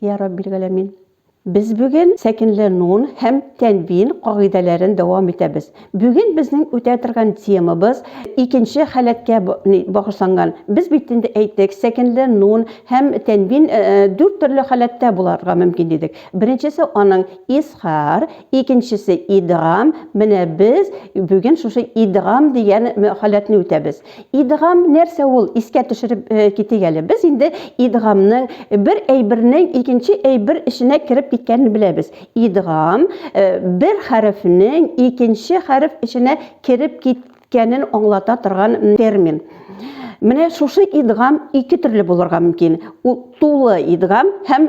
Йә Раббилгаләмин! Без бүген сәкенле нун һәм тәнвин кагыйдәләрен дәвам итәбез. Бүген безнең үтә торган темабыз икенче халәткә багышланган. Без бит инде әйттек, сәкенле нун һәм тәнвин дүрт төрле халәттә буларга мөмкин дидек. Беренчесе аның изһар, икенчесе идгам, менә без бүген шушы идгам дигән халәтне үтәбез. Идгам нәрсә ул? Искә төшереп китик әле. Без инде идгамның бер әйбернең икенче әйбер эченә кереп киткәнен беләбез. Идгам бер хәрефнең икенче хәреф эченә кереп киткәнен аңлата торган термин. Менә шушы идгам ике төрле булырга мөмкин. Ул тулы идгам һәм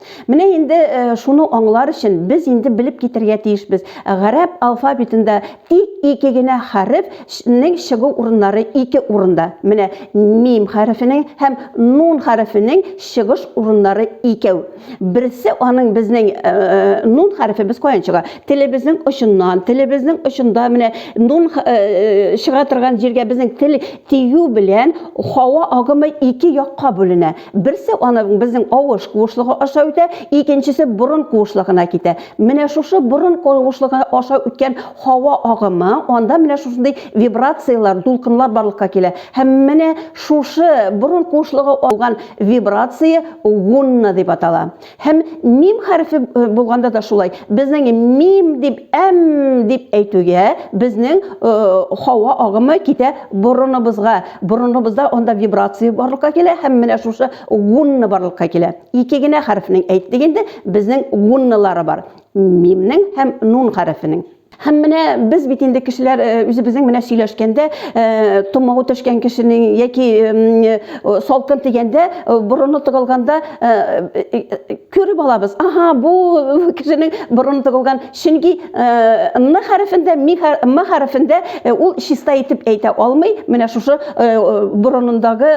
Менә инде э, шуны аңлар өчен без инде белеп китергә тиешбез. Гарәп алфавитында тик ике генә хәрефнең чыгу урыннары ике урында. Менә мим хәрефенең һәм нун хәрефенең чыгыш урыннары икәү. Берсе аның безнең э, э, нун хәрефе без каян чыга? Телебезнең очыннан, телебезнең очында менә нун чыга торган җиргә безнең тел тию белән һава агымы ике якка бүленә. Берсе аны безнең авыш куышлыгы аша үтә, икенчесе борын куышлыгына китә. Менә шушы борын куышлыгы аша үткән һава агымы, анда менә шушындый вибрацияләр, дулкынлар барлыкка килә. Һәм менә шушы борын куышлыгы алган вибрация гунна дип атала. Һәм мим хәрефе булганда да шулай. Безнең мим дип әм дип әйтүгә, безнең хава агымы китә борыныбызга. Борыныбызда анда вибрация барлыкка килә һәм менә шушы гунны барлыкка килә. Ике генә хәрефнең әйттек инде, безнең гуннылары бар. Мимнең һәм нун хәрефенең. Һәм менә без бит инде кешеләр э, үзебезнең менә сөйләшкәндә э, томау төшкән кешенең яки э, салкын дигәндә борыны тыгылганда күреп алабыз. Аһа, бу кешенең борыны тыгылган. Чөнки н хәрефендә, м хәрефендә ул чиста итеп әйтә алмый. Менә шушы борынындагы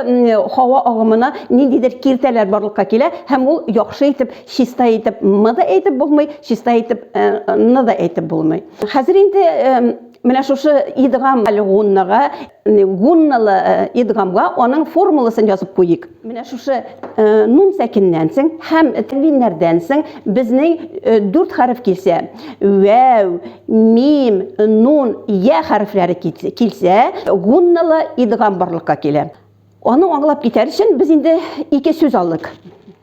һава агымына ниндидер киртәләр барлыкка килә һәм ул яхшы итеп Чиста итеп мы да әйтеп булмый, чиста итеп ны да әйтеп булмый. Хәзер инде менә шушы идгам әле гуннага, гунналы идгамга аның формуласын язып куйыйк. Менә шушы нун сәкиннән соң һәм тәнвиннәрдән соң безнең дүрт хәреф килсә, вәү, мим, нун, я хәрефләре килсә, гунналы идгам барлыкка килә. Аны аңлап китәр өчен без инде ике сүз алдык.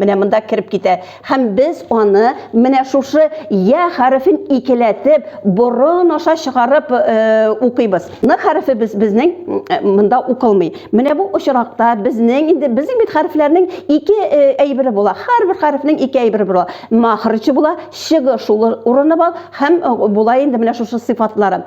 Менә монда кереп китә. Һәм без аны менә шушы я хәрефен икеләтеп, борын аша чыгарып э, укыйбыз. Н хәрефе без безнең э, монда укылмый. Менә бу очракта безнең инде безнең бит хәрефләрнең ике э, әйбере була. Һәрбер хәрефнең ике әйбере була. Махрычы була, чыгыш урыны бар һәм э, була инде менә шушы сыйфатлары.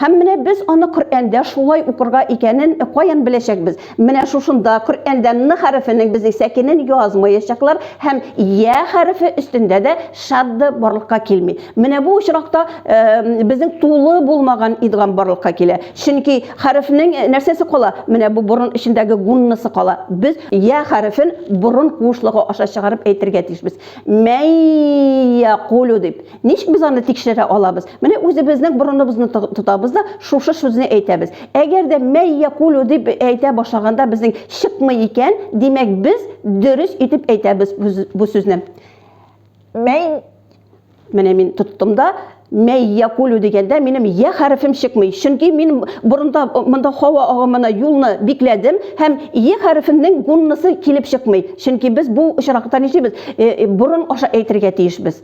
Һәм менә без аны Коръәндә шулай укырга икәнен каян беләчәкбез? Менә шушында Коръәндә н хәрефенең безнең сәкенен язмаячаклар һәм я хәрефе өстендә дә шадда барлыкка килми. Менә бу очракта безнең тулы булмаган идгам барлыкка килә. Чөнки хәрефнең нәрсәсе кала? Менә бу борын эчендәге гуннасы кала. Без я хәрефен борын куышлыгы аша чыгарып әйтергә тиешбез. Мәй якулю дип. Ничек без аны тикшерә алабыз? Менә үзебезнең борыныбызны тотабыз да, шушы сүзне әйтәбез. Әгәр дә мәй якулю дип әйтә башлаганда безнең чыкмый икән, димәк без дөрес итеп әйтәбез бу сүзне. Мәй Менә мин тоттым да, мәй якулю дигәндә минем я хәрефем чыкмый. Чөнки мин борында монда һава агымына юлны бикләдем һәм е хәрефенең гуннысы килеп чыкмый. Чөнки без бу очракта нишлибез? Э, э, борын аша әйтергә тиешбез.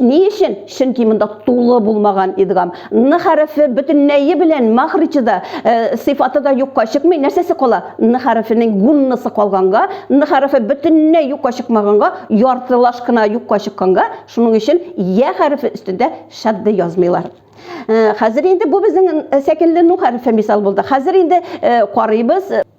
Ни өчен? Чөнки монда тулы булмаган идгам. Н хәрефе бөтенләе белән мәхриче дә, сыйфаты да юкка чыкмый. Нәрсәсе кала? Н хәрефенең гуннасы калганга, Н хәрефе бөтенләй юкка чыкмаганга, яртылаш кына юкка чыкканга, шуның өчен Йә хәрефе өстендә шәддә язмыйлар. Хәзер инде бу безнең сәкенле Ну хәрефе мисал булды. Хәзер инде карыйбыз.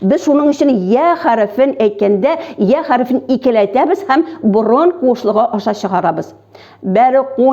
Без шуның өчен я хәрефен әйткәндә, я хәрефен икеләтәбез һәм борын куышлыгы аша чыгарабыз. Бәр куйяҗгалүнә.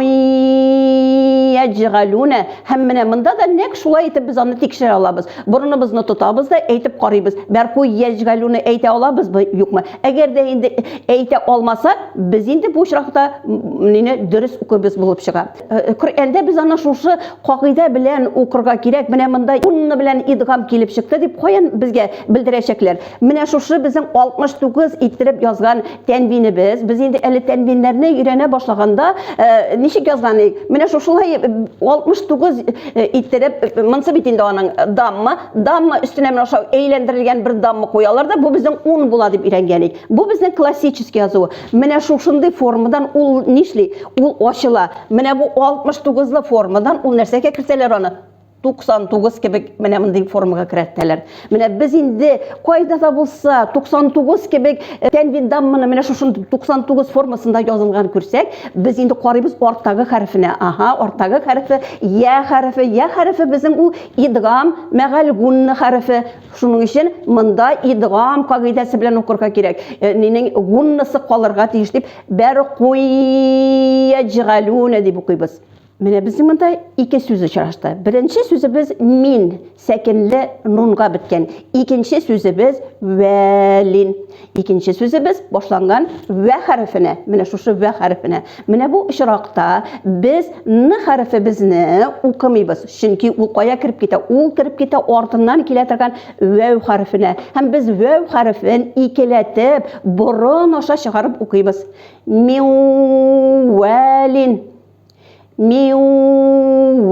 Һәм менә монда да нәк шулай итеп без аны тикшерә алабыз. Борыныбызны тотабыз да әйтеп карыйбыз. Бәр куйяҗгалүнә әйтә алабызбы, юкмы? Әгәр дә инде әйтә алмасак, без инде бу очракта нене дөрес укыбыз булып чыга. Э, Коръәндә без аны шушы кагыйдә белән укырга кирәк. Менә монда унны белән идгам килеп чыкты дип каян безгә белдерәчәкләр? Менә шушы безнең 69 иттереп язган тәнвинебез. Без инде әле тәнвиннәрне өйрәнә башлаганда э, ничек язган идек? Менә шушылай 69 э, иттереп монсы бит инде аның дамма, дамма өстенә менә шау әйләндерелгән бер дамма куялар да, бу безнең 10 була дип өйрәнгән идек. Бу безнең классический язу. Менә шушындый формадан ул нишли? Ул ачыла. Менә бу 69 лы формадан ул нәрсәгә кертәләр аны? 99 кебек менә мондый формага керәтәләр. Менә без инде кайда да булса 99 кебек э, тәнвин дамманы менә шушын 99 формасында язылган күрсәк, без инде карыйбыз арттагы хәрефенә. Аһа, арттагы хәрефе я хәрефе. Я хәрефе безнең ул идгам мәгәлгун хәрефе. Шуның өчен монда идгам кагыйдәсе белән укырга кирәк. Э, Нинең гуннысы калырга тиеш дип бәр куяҗгалүнә дип укыйбыз. Менә безнең монда ике сүз очрашты. Беренче сүзебез мин сәкенле нунга беткән. Икенче сүзебез вәлин. Икенче сүзебез башланган вә хәрефенә. Менә шушы вә хәрефенә. Менә бу очракта без н хәрефе безне укымыйбыз. Чөнки ул кая кереп китә? Ул кереп китә артыннан килә торган вәү хәрефенә. Һәм без вәү хәрефен икеләтеп, борын аша чыгарып укыйбыз. Миуәлин. Миуәлин.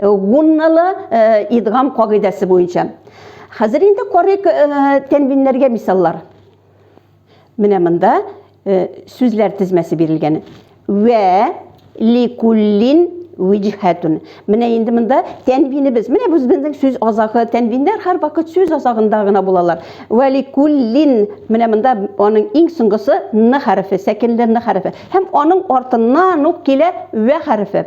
Гунналы идгам кагыйдәсе буенча. Хәзер инде карыйк тәнвиннәргә мисаллар. Менә монда сүзләр тезмәсе бирелгән. Вә ликуллин виҗхәтун. Менә инде монда тәнвинебез. Менә без безнең сүз азагы тәнвиннәр һәр вакыт сүз азагында гына булалар. Валикуллин менә монда аның иң соңгысы н хәрефе, сәкенле н хәрефе. Һәм аның артыннан ук килә вә хәрефе.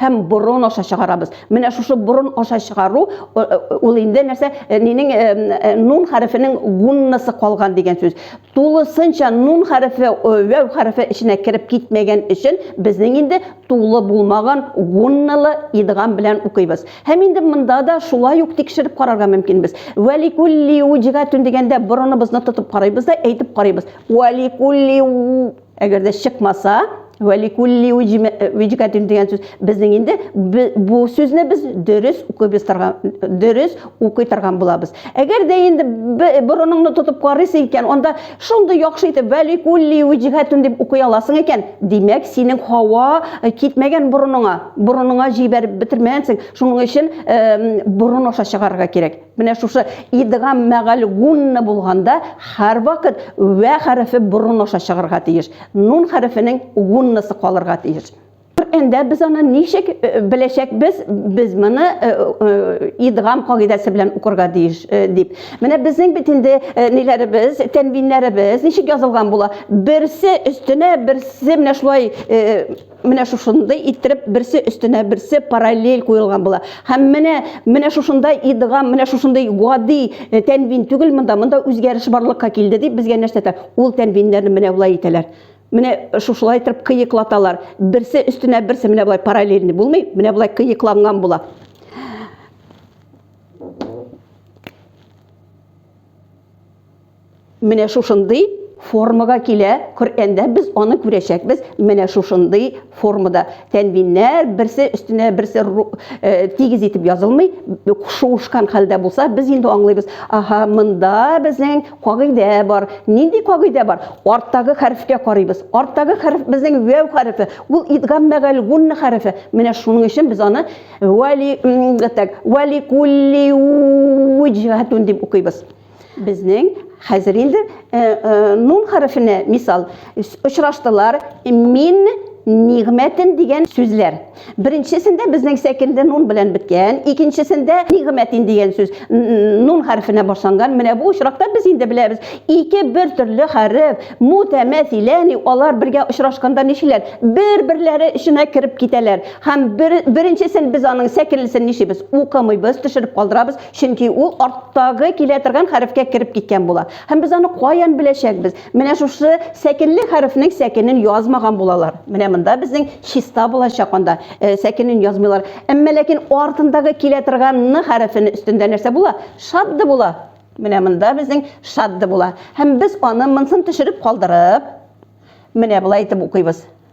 һәм борын аша чыгарабыз. Менә шушы борын аша чыгару ул инде нәрсә нинең нун хәрефенең гуннасы калган дигән сүз. Тулысынча нун хәрефе вәү хәрефе эченә кереп китмәгән өчен безнең инде тулы булмаган гунналы идгам белән укыйбыз. Һәм инде монда да шулай ук тикшереп карарга мөмкин без. Валикулли уҗгатун дигәндә борыныбызны тотып карыйбыз да әйтеп карыйбыз. Валикулли Әгәр дә чыкмаса, вәликулли виҗкатин дигән сүз. Безнең инде бу сүзне без дөрес укып торган, дөрес укый торган булабыз. Әгәр дә инде борыныңны тотып карыйсы икән, анда шундый яхшы итеп вәликулли виҗкатин дип укый аласың икән, димәк, синең һава э, китмәгән борыныңа, борыныңа җибәреп бетермәгәнсең. Шуның өчен э, борын аша чыгарырга кирәк. Менә шушы идгам мәгальгунна булганда һәрвакыт вә хәрефе борын аша чыгырга тиеш. Нун хәрефенең гуннасы калырга тиеш. Коръәндә без аны ничек беләчәкбез? Без моны идгам кагыйдәсе белән укырга тиеш дип. Менә безнең бит инде ниләребез, тәнвиннәребез ничек язылган була? Берсе өстенә берсе менә шулай Менә шушындай иттереп берсе өстенә берсе параллель куелган була. Һәм менә менә шушындай идгам, менә шушындай гади э, тәнвин түгел монда, монда үзгәреш барлыкка килде дип безгә нәрсә әйтә? Ул тәнвиннәрне менә болай итәләр. Менә шушылай итеп кыеклаталар. Берсе өстенә берсе менә болай параллельный булмый, менә болай кыекланган була. Менә шушындый формага килә Коръәндә, без аны күрәчәкбез менә шушындый формада. Тәнвиннәр берсе өстенә берсе э, тигез итеп язылмый, шуышкан хәлдә булса, без инде аңлыйбыз. Аһа, монда безнең кагыйдә бар. Нинди кагыйдә бар? Арттагы хәрефкә карыйбыз. Арттагы хәреф безнең вәү хәрефе. Ул идгам мәгәл гунна хәрефе. Менә шуның өчен без аны вали так, вали кулли уҗгатун дип укыйбыз. Безнең хәзер инде э, э, нун хәрефенә мисал очраштылар мин нигмәтен дигән сүзләр. Беренчесендә безнең сәкендә нун белән беткән, икенчесендә нигмәтин дигән сүз нун хәрефенә башланган. Менә бу очракта без инде беләбез. Ике бер төрле хәреф, мутәмәсиләни, алар бергә очрашканда ничиләр? Бер-берләре эченә кереп китәләр. Һәм бер, беренчесен без аның сәкенлесен ничибез? Укымыйбыз, төшереп калдырабыз. Чөнки ул арттагы килә торган хәрефкә кереп киткән була. Һәм без аны каян беләчәкбез? Менә шушы сәкенле хәрефнең сәкенен язмаган булалар. Менә монда безнең чиста булачак анда. Э, сәкенен язмыйлар. Әмма ләкин артындагы килә торган н хәрефен өстендә нәрсә була? Шадды була. Менә монда безнең шадды була. Һәм без аны монсын төшереп калдырып, менә болай итеп укыйбыз.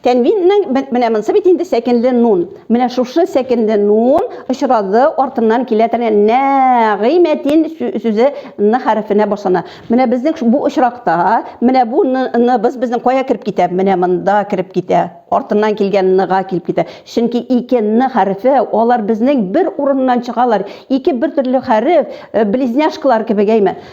Тәнвиннең бе- менә монсы бит инде сәкенле нун. Менә шушы сәкенле нун очрагы артыннан килә торган нә-гый-мә-тин сү- сүзе н хәрефенә башлана. Менә безнең шу- бу очракта менә бу ны- ныбыз безнең кая кереп китә? Менә монда кереп китә. Артыннан килгән ныга килеп китә. Чөнки ике н хәрефе, алар безнең бер урыннан чыгалар. Ике бертөрле хәреф, э, близняшкалар кебек, әйме?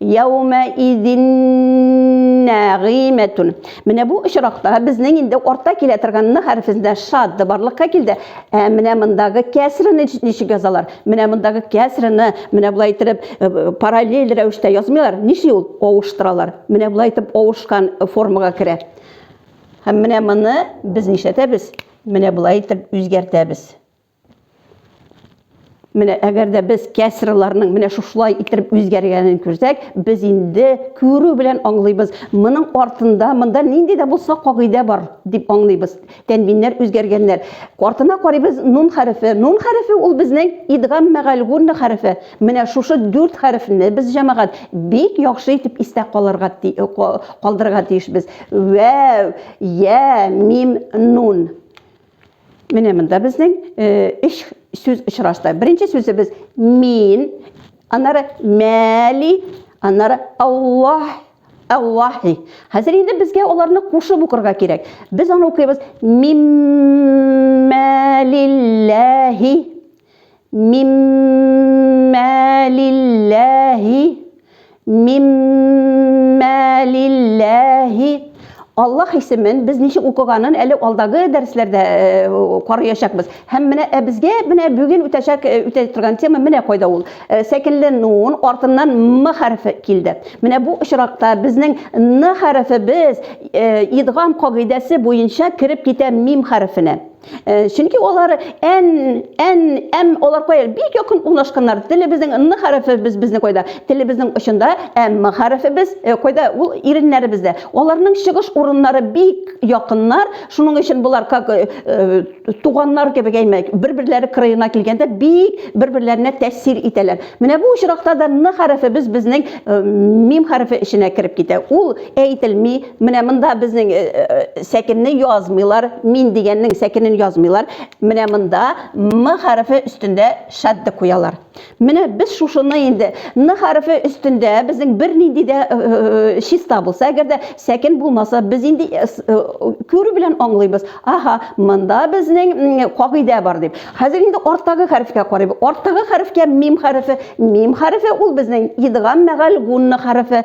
Яумәидиннәгыймәтун. Менә бу очракта безнең инде орта килә торган н хәрефендә шад да барлыкка килде. Ә менә мондагы кәсрене ничек язалар? Менә мондагы кәсрене менә болай итеп параллель рәвештә язмыйлар. Нишли ул? Авыштыралар. Менә болай итеп авышкан формага керә. Һәм менә моны без нишләтәбез? Менә болай итеп үзгәртәбез. Менә әгәр дә без кәсраларның менә шушылай иттереп үзгәргәнен күрсәк, без инде күрү белән аңлыйбыз, моның артында монда нинди дә булса кагыйдә бар дип аңлыйбыз. Тәнвиннәр үзгәргәннәр. Артына карыйбыз нун хәрефе. Нун хәрефе ул безнең идгам мәгәл гунна хәрефе. Менә шушы дүрт хәрефне без җәмәгать бик яхшы итеп истә калырга калдырырга тиешбез. Вәв, я, мим, нун. Менә монда безнең өч сүз очрашты. Беренче сүзебез мин, аннары мәли, аннары Аллаһ Аллахи. Хәзер инде безгә аларны кушып укырга кирәк. Без аны укыйбыз. Миммәлилләһи. Миммәлилләһи. Миммәлилләһи. Аллаһ исемен без ничек укыганын әле алдагы дәресләрдә карыячакбыз. Һәм менә ә безгә менә бүген үтәчәк үтә торган тема менә кайда ул. Сәкенле нун артыннан м хәрефе килде. Менә бу очракта безнең н хәрефе без идгам кагыйдәсе буенча кереп китә мим хәрефенә. Э, чөнки алар ән ән әм алар кая бик якын урнашканнар телебезнең н хәрефебез безне кайда телебезнең очында әм хәрефебез э, кайда ул иреннәребездә аларның чыгыш урыннары бик якыннар шуның өчен болар как э, туганнар кебек әйме бер берләре кырыена килгәндә бик бер берләренә тәэсир итәләр менә бу очракта да н хәрефебез безнең мим хәрефе эченә кереп китә ул әйтелми Менә монда безнең э, э, э, сәкенне язмыйлар, мин дигәннең сәкенен язмыйлар. Менә монда м хәрефе өстендә шадды куялар. Менә без шушыны инде н хәрефе өстендә безнең бернинди дә чиста булса, әгәр дә сәкен булмаса, без инде күрү белән аңлыйбыз. Аха, монда безнең кагыйдә бар дип. Хәзер инде арттагы хәрефкә карыйбыз. Арттагы хәрефкә мим хәрефе, мим хәрефе ул безнең идгам мәгәл гунна хәрефе.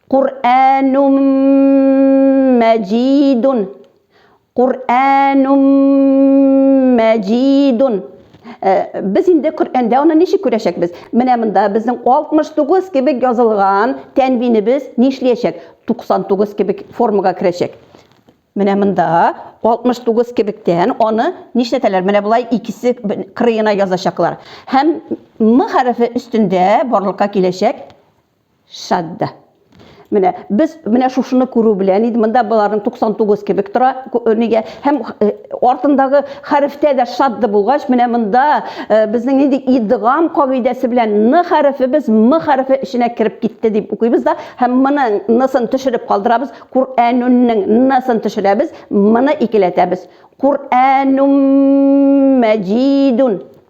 Куръәнум мәҗидун. Куръәнум мәҗидун. Э, без инде Коръәндә аны ничек күрәчәкбез? Менә монда безнең 69 кебек язылган тәнвинебез нишләячәк? 99 кебек формага керәчәк. Менә монда 69 кебектән аны нишләтәләр? Менә болай икесе кырыена язачаклар. Һәм м хәрефе өстендә барлыкка киләчәк Шәддә. Менә без менә шушыны күрү белән инде монда боларның 99 кебек тора нигә һәм артындагы хәрефтә дә шадды булгач менә монда безнең нинди идгам кагыйдәсе белән н хәрефе без м хәрефе эченә кереп китте дип укыйбыз да һәм моның нысын төшереп калдырабыз Куръәнүннең нысын төшерәбез моны икеләтәбез Куръәнүм мәҗидун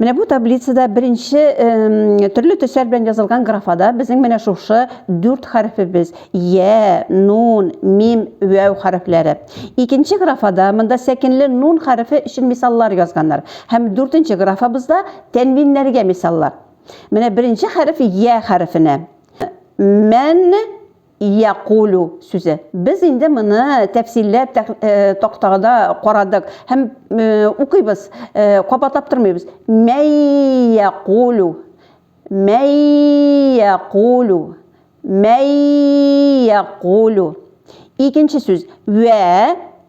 Менә бу таблицада беренче төрле төсләр белән язылган графада безнең менә шушы дүрт хәрефебез я, нун, мим, вәү хәрефләре. Икенче графада монда сәкенле нун хәрефе өчен мисаллар язганнар. Һәм дүртенче графабызда тәнвиннәргә мисаллар. Менә беренче хәреф я хәрефенә. Мән якулю сүзе. Без инде моны тәфсилләп тактада карадык һәм укыйбыз, кабатлап тормыйбыз. Мәй якулю, мәй якулю, мәй якулю. Икенче сүз. Вә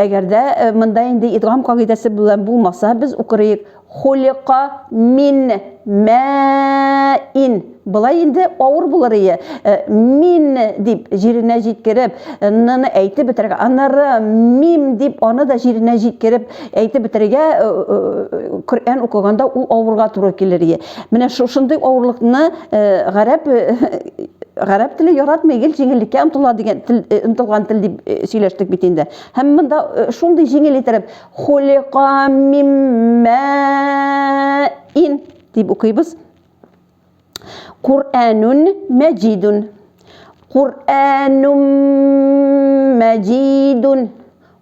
Әгәр дә монда инде идгам кагыйдәсе белән булмаса, без укырыек хулика мин мә ин. Болай инде авыр булыр ие. Мин дип җиренә җиткереп, ныны әйтеп бетерергә, аннары мим дип аны да җиренә җиткереп әйтеп бетерергә Коръән укыганда ул авырга туры килер ие. Менә шушындый авырлыкны гарәп гарәп теле яратмый, гел җиңеллеккә омтыла дигән тел, омтылган тел дип сөйләштек бит инде. Һәм монда шундый җиңел иттереп хулика миммәин дип укыйбыз. Кур'анун мәҗидун. Кур'анун мәҗидун.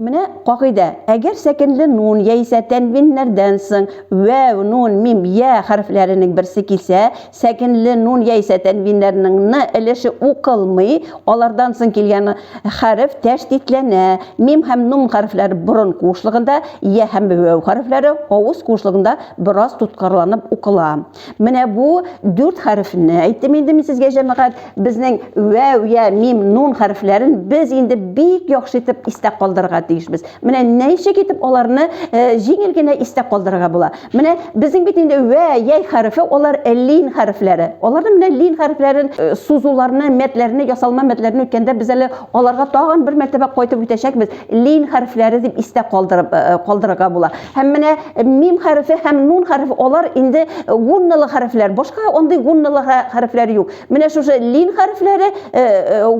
Менә кагыйдә, әгәр сәкенле нун яисә тәнвиннәрдән соң вәү, нун, мим, йә хәрефләренең берсе килсә, сәкенле нун яисә тәнвиннәрнең ны өлеше укылмый, алардан соң килгән хәреф тәшдидләнә, мим һәм нун хәрефләре борын куышлыгында, йә һәм вәү хәрефләре авыз куышлыгында бераз тоткарланып укыла. Менә бу дүрт хәрефне әйттем инде мин сезгә җәмәгать. Безнең вәү, я, мим, нун хәрефләрен без инде бик яхшы итеп истә калдырырга тиешбез. Менә ничек итеп аларны э, җиңел генә истә калдырырга була. Менә безнең бит инде вә, яй хәрефе, алар э, лин хәрефләре. Аларны менә лин хәрефләрен э, сузуларны, мәтләрне, ясалма мәтләрне үткәндә без әле аларга тагын бер мәртәбә кайтып үтәчәкбез. Лин хәрефләре дип истә калдырып калдырырга була. Һәм менә мим хәрефе һәм нун хәрефе алар инде гунналы хәрефләр. Башка андый гунналы хәрефләр юк. Менә шушы лин хәрефләре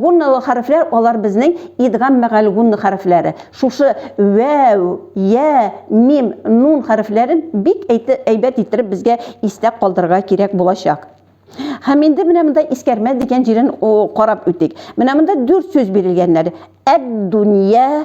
гунналы хәрефләр, алар безнең идгам мәгәл гунны хәрефләре. Шушы вәү, я, мим, нун хәрефләрен бик әйбәт иттереп безгә истә калдырырга кирәк булачак. Һәм инде менә монда искәрмә дигән җирен карап үтик. Менә монда дүрт сүз бирелгәннәр. Әд-дөнья,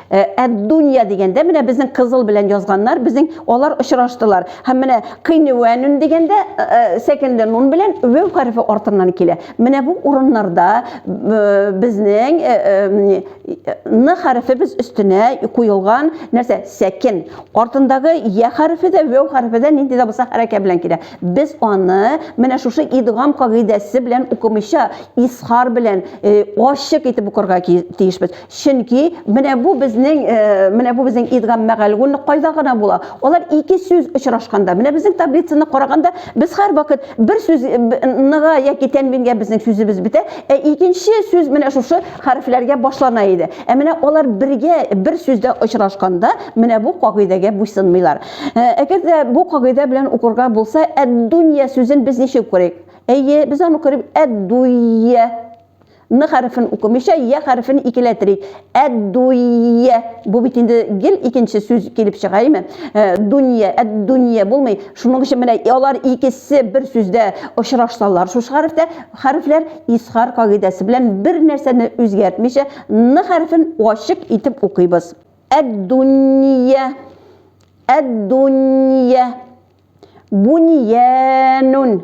Э, әд-дунья дигәндә менә безнең кызыл белән язганнар, безнең алар очраштылар. Һәм менә кыйнвәнүн дигәндә э, э, сәкенле нун белән вәү хәрефе артыннан килә. Менә бу урыннарда безнең н хәрефе без өстенә куелган нәрсә? Сәкен. Артындагы я хәрефе дә, вәү хәрефе дә нинди дә булса хәрәкә белән килә. Без аны менә шушы идгам кагыйдәсе белән укымыйча, исхар белән ачык итеп укырга тиешбез. Чөнки менә бу безнең менә бу безнең идгам мәгәлгун кайда гына була? Алар ике сүз очрашканда, менә безнең таблицаны караганда, без һәрвакыт бер сүз ныга яки тәнвингә безнең сүзебез бетә, ә икенче сүз менә шушы хәрефләргә башлана иде. Ә менә алар бергә бер сүздә очрашканда, менә бу кагыйдәгә буйсынмыйлар. Әгәр дә бу кагыйдә белән укырга булса, әд-дунья сүзен без ничек укыр идек? Әйе, без аны укыр идек әд-дуййә. Н хәрефен укымыйча, я хәрефен икеләтерик. Әд-дуйя. Бу бит инде гел икенче сүз килеп чыга, әйме? Э, дунья, әд-дунья булмый. Шуның өчен менә алар икесе бер сүздә очрашсалар, шушы хәрефтә хәрефләр исхар кагыйдәсе белән бер нәрсәне үзгәртмичә, н хәрефен ачык итеп укыйбыз. Әд-дунья. Әд-дунья. Буньянун.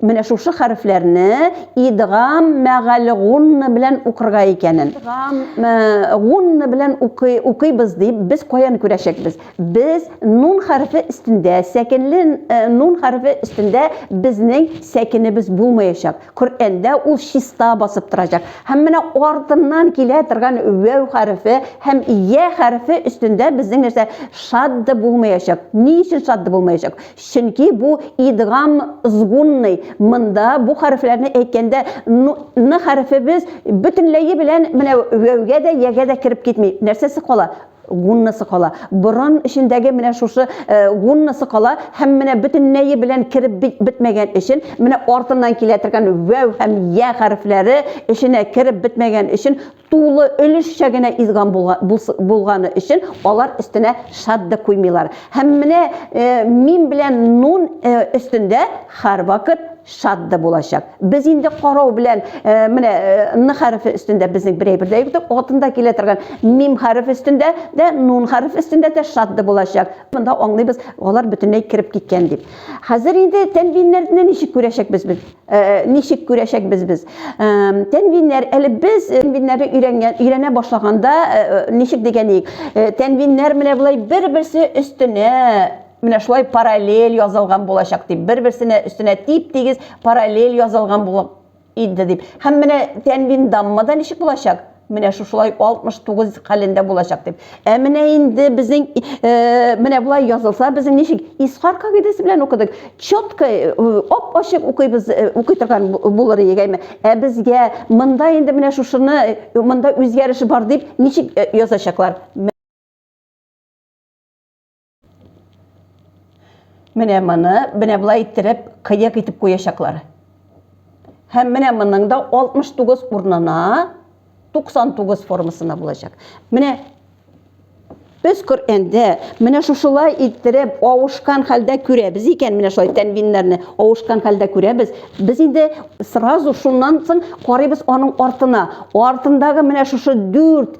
Менә шушы хәрефләрне идгам мәгаль гунна белән укырга икәнен. Идгам гунна белән укый, укыйбыз дип без каян күрәчәкбез? Без нун хәрефе өстендә, сәкенле нун хәрефе өстендә безнең сәкенебез булмаячак. Коръәндә ул чиста басып торачак. Һәм менә артыннан килә торган вәү хәрефе һәм я хәрефе өстендә безнең нәрсә шадда булмаячак. Ни өчен шадда булмаячак? Чөнки бу идгам згунный, монда бу хәрефләрне әйткәндә ну ны хәрефе без бөтенләе белән менә вәүгә дә, ягә дә кереп китми. Нәрсәсе кала? Гуннасы кала. Борын эчендәге менә шушы гуннасы кала һәм менә бөтенләе белән кереп бетмәгән өчен, менә артыннан килә торган вәү һәм йә хәрефләре эченә кереп бетмәгән өчен тулы өлешчә генә изган булганы өчен алар өстенә шат да куймыйлар. Һәм менә э, мин белән нун э, өстендә һәрвакыт шат да булачак. Без инде карау белән э, менә н хәрефе өстендә безнең бер әйбер дә юктыр. Атында килә торган мим хәрефе өстендә дә, нун хәрефе өстендә дә шат да булачак. Монда аңлыйбыз, алар бөтенләй кереп киткән дип. Хәзер инде тәнвиннәрне ничек күрәчәкбез без? Э, ничек күрәчәкбез без э, тәнвиннәр әле без э, тәнвиннәрне өйрәнгән өйрәнә башлаганда ничек дигән идек тәнвиннәр менә болай бер берсе өстенә менә шулай параллель язылган булачак дип бер берсенә өстенә тип тигез параллель язылган булып иде дип һәм менә тәнвин даммада ничек булачак Менә шушылай 69 хәлендә булачак дип. Ә менә инде безнең э, менә болай язылса, безнең ничек Исхар кагыйдәсе белән укыдык. Чётко э, ап-ачык укыйбыз, э, укый торган булыр идегәме? Ә безгә монда инде менә шушыны монда үзгәреш бар дип ничек язачаклар? Менә моны, менә болай иттереп, кыек итеп куячаклар. Һәм менә моның да 69 урынына 99 формасына булачак. Менә без Коръәндә менә шушылай иттереп авышкан хәлдә күрәбез икән, менә шулай тәнвиннәрне авышкан хәлдә күрәбез. Без инде сразу шуннан соң карыйбыз аның артына. Артындагы менә шушы 4